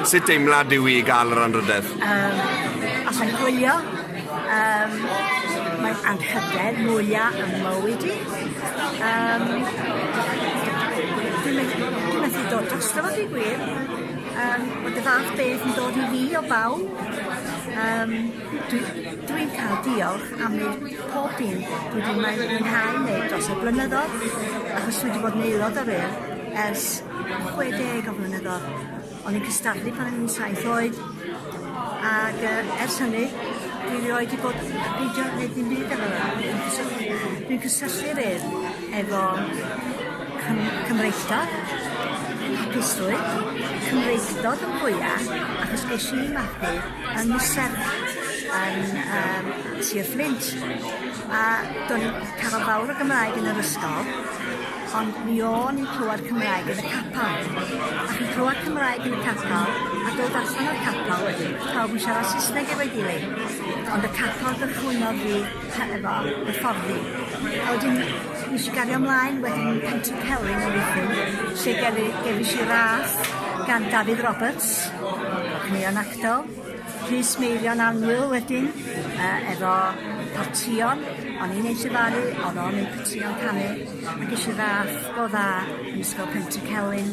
Sut deimlad yw i gael yr anrhydedd? Um, os mae'n hwylio, um, mae'n anrhydedd mwyaf yn mywyd i. Um, dwi'n methu dod drosto fod i gwir. Um, mae dy fath beth yn dod i fi o bawb. Um, Dwi, dwi'n cael diolch am wneud pob dim dwi wedi mwyn- mwynhau wneud dros y blynyddoedd, achos dwi wedi bod yn aelod o'r Urdd ers 60 o flynyddoedd. O'n i'n cystadlu pan o'n i'n saith oed, ac yy ers hynny dwi erioed wedi bod yn peidio wneud dim byd efo'r Urdd. Dwi'n cysylltu, dwi'n cysylltu'r Urdd efo cym- cymreictod, hapusrwydd, cymreictod yn fwya, achos ges i magu yn y serch yn yym Sir Fflint a do'n i'n cafael fawr o Gymraeg yn yr ysgol ond mi o'n i'n clwad Cymraeg yn y capal ac yn clwad Cymraeg yn y capal a dod allan o'r capal wedyn pawb yn siarad Saesneg efo'i gilydd ond y capal gychwynnodd fi he- efo hyfforddi a wedyn nesh i gario mlaen wedyn i Pentre Celyn yn Rhuthun lle gefi- gefesh i ras gan Dafydd Roberts Rhys yn Ian Actol. Rhys Meirion Annwyl wedyn yy efo potïon o'n i'n eu llefaru o'dd o'n eu potïon canu a gesh i ras go dda yn Ysgol Pentycelyn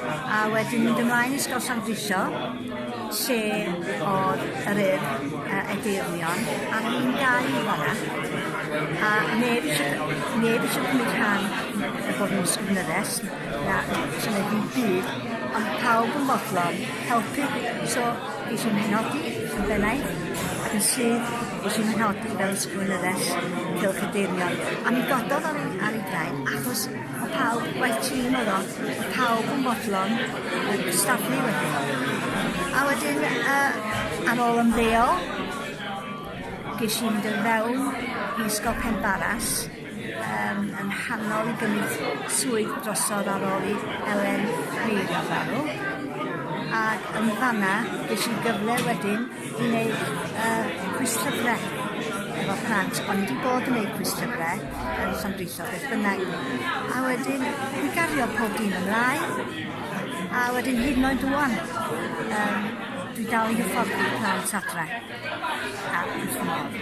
a wedyn mynd ymlaen i Ysgol Llandrillo lle o'dd yr Urdd yy Edeyrnion a o'n i'n gau fana a neb isie neb isie cymryd rhan o fod yn ysgrifeneddus Nac, swn i ddim byd, ond pawb yn fodlon helpu. So, gesh i fy nghefnogi yn bennaeth, ac yn syth, gesh i fy nghefnogi fel ysgrifenyddes Cylch y Deyrnion. A mi gododd ar ei, ar ei draed, achos o pawb, waith tîm oedd o, o pawb yn fodlon yn cystadlu wedyn. A wedyn, uh, ar ôl ymddeol, gesh i fynd yn fewn i Ysgol Penbaras, Yn yn nghanol i gymryd swydd drosodd ar ôl i Elen Llyr farw, ag yn fanna ges i gyfle wedyn i neud yy cwistiybre efo plant o'n i 'di bod yn neud cwistiybre yn Llandrillo beth bynnag a wedyn i gario pob dim ymlaen a wedyn hyd yn oed ŵan yym dwi dal i hyfforddi plant adre a wrth fy modd.